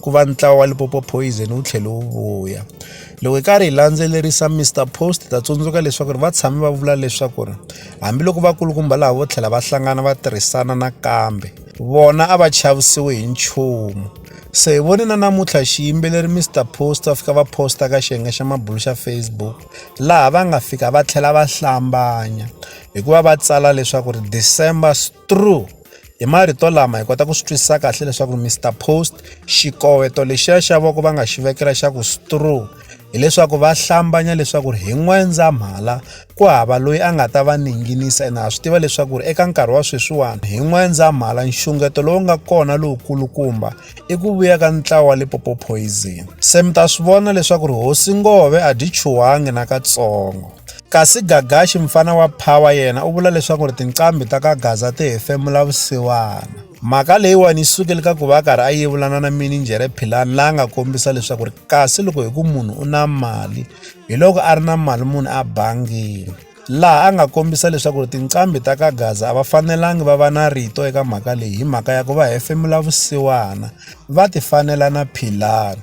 ku va ntlawa wa Limpopo Poison wu tlhele wu vuya. Loko hi karhi hi landzelerisa Mister Post hi ta tsundzuka leswaku ri va tshame va vula leswaku ri hambiloko vakulukumba laha vo tlhela va hlangana va tirhisana nakambe vona a va chavisiwi hi nchumu. Se hi vone na namuntlha xiyimbeleri Mister Post va fika va posta ka xiyenge xa mabulo xa Facebook laha va nga fika va tlhela va hlambanya hikuva va tsala leswaku ri December. through hi marito lama hi kota ku swi twisisa kahle leswaku mr post xikoweto lexiya xa voko va nga xi vekela xa ku straw hileswaku va hlambanya leswaku hi n'wendzamhala ku hava loyi a nga ta va ninginisa ene ha swi tiva leswaku ri eka nkarhi wa sweswiwani hi n'wendzamhala nxungeto lowu nga kona lowukulukumba i ku vuya ka ntlawa wa lipopo poison se mi ta swi vona leswaku ri hosi ngove a dyi chuhangi nakatsongo kasi gagaxi mfana wa power yena u vula leswaku ri tinqambi ta ka gaza ti hefemula vusiwana mhaka leyiwani yi sukele ka ku va a karhi a yevulana na mininjhere philani la nga kombisa leswaku ri kasi loko hi ku munhu u na mali hi loko a ri na mali munhu a bangile laha a nga kombisa leswaku ri tinqambi ta ka gaza a va fanelangi va va na rito eka mhaka leyi hi mhaka ya ku va hefemula vusiwana va ti fanela na philani